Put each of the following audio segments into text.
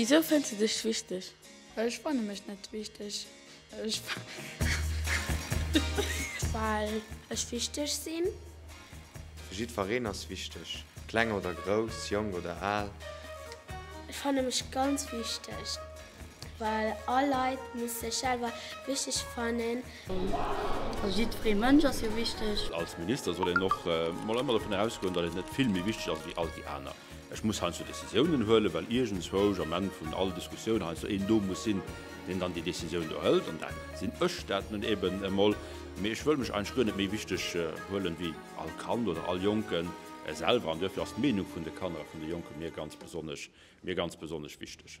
Wisou fënns du dech wichteg? Ech fanne mech net wichteg, well ech wichteg sinn. Jiddwereen ass wichteg, kleng oder grouss, jonk oder al. Ech fanne mech ganz wichteg. Well all Leit muss sech selwer wichteg fannen. Jiddweree Mënsch ass jo wichteg. Als Minister soll een och mol ëmmer dovun ausgoen, datt een net vill méi wichteg ass wéi all déi aner. Ech muss heiansdo Decisiounen huelen, well iergendswousch am Enn vun all Diskussioun heiansdo een do muss sinn, deen dann déi Decisioun do hëlt. An da sinn ech dat nun eben emol. Mee ech wëll mech eigentlech guer net méi wichteg huelen wéi all Kand oder all Jonke selwer. An duerfir ass d'Meenung vun de Kanner a vun de Jonke mir ganz besonnesch, mir ganz besonnesch wichteg.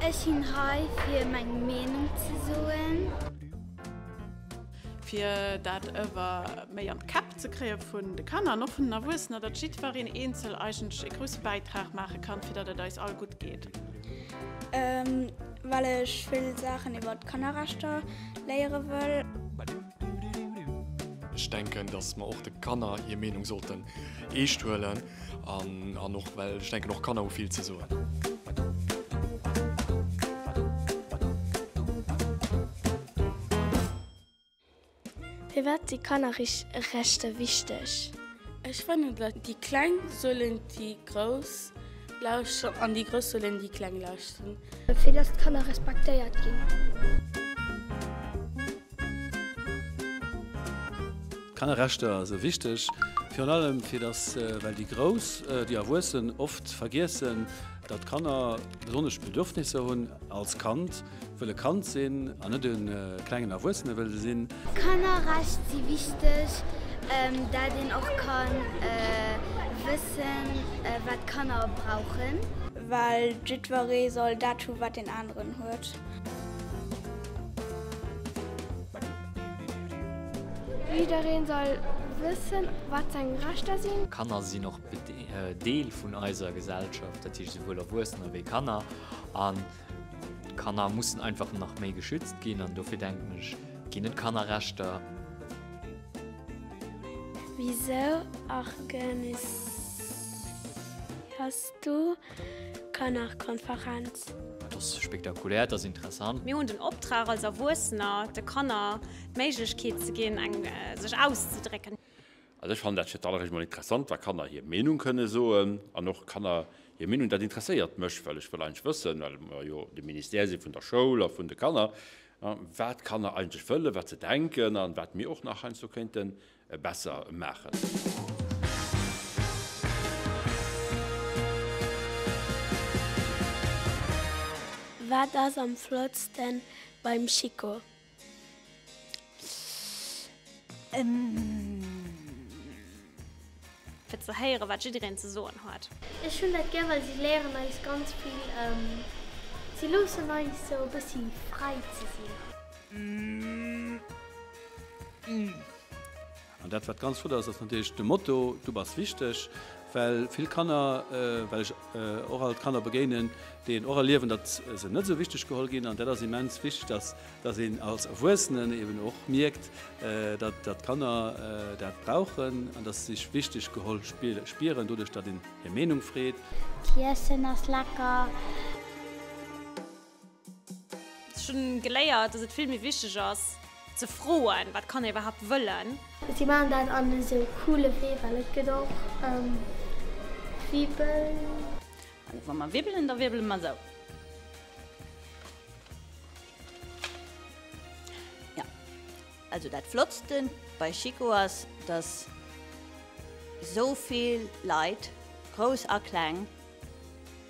Ech sinn hei fir meng Meenung ze soen. Fir dat ewer méi an d'Käpp ze kréie vun de Kanner an och vun den Erwuessener, datt jiddwereen eenzel eigentlech ee grousse Bäitrag maache kann, fir datt et eis all gutt geet. Well ech vill Saachen iwwer d'Kannerrechter léiere wëll. Ech denken, datt mer och de Kanner hir Meenung sollten eescht huelen. An och well ech denken och Kanner hu vill ze soen. Firwat si Kannerrechter wichteg? Ech fannen, datt déi Kleng sollen déi Grouss lauschteren an déi Grouss sollen déi Kleng lauschteren. Fir datt d'Kanner respektéiert ginn. Kannerrechter sou wichteg, virun allem fir dass well déi Grouss, déi Erwuessen, oft vergiessen dat Kanner besonnesch Bedürfnisser hunn als Kand wëll e Kand sinn an net e klengen Erwuessene wëll sinn. Kannerrecht si wichteg dat een och ka wëssen wat Kanner brauchen. Well jiddweree soll dat hu wat deen aneren huet. Jiddereen soll wëssen wat seng Rechter sinn. Kanner sinn och Deel vun eiser Gesellschaft, dat heescht souwuel Erwuessener wéi Kanner. An Kanner mussen einfach nach méi geschützt ginn an dofir denken ech ginn et Kannerrechter. Wisou argeniséiers du? Kannerkonferenz. Et ass spektakulär, et ass interessant. Mir hunn den Optrag als Erwuessener de Kanner d'Méiglechkeet ze ginn eng sech auszedrécken. Also ech fannen dat fir d'alleréischt mol interessant, wa Kanner hir Meenung kënne soen an och Kanner hir Meenung. Dat interesséiert mech, well ech wëll eigentlech wëssen, well mer jo de Ministère si vun der Schoul a vun de Kanner, wat d'Kanner eigentlech wëllen, wat se denken a wat mir och nach heiansdo kéinten besser maachen. Wat ass am flottsten beim Chico? Fir ze héieren, wat jiddereen ze soen huet. Ech hunn dat gär, well si léieren eis ganz vill. Si loossen eis sou e bëssi fräi ze sinn. An dat, wat ganz flott ass, ass natierlech de Motto Du bass wichteg. Well vill Kanner, well ech och alt Kanner begéinen, déi een och erliewen, datt se net esou wichteg geholl ginn. An dat ass immens wichteg, datt dass een als Erwuessenen eben och mierkt, datt d'Kanner dat brauchen an datt se sech wichteg geholl spieren, doduerch datt een hir Meenung freet. D'Iessen ass lecker. Ech hunn geléiert, dass et vill méi wichteg ass ze froen, wat d'Kanner iwwerhaapt wëllen. Si maachen dat an esou coole Wee, well et gëtt och Wibbel. Wa mer wibbelen, da wirbele mer esou. Ja, also dat Flottsten bei Chico ass, dass esou vill Leit, grouss a kleng,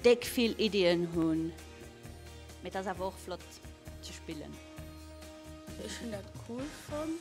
déck vill Iddien hunn, mee et ass awer och flott ze spillen. Ech hunn dat cool fonnt.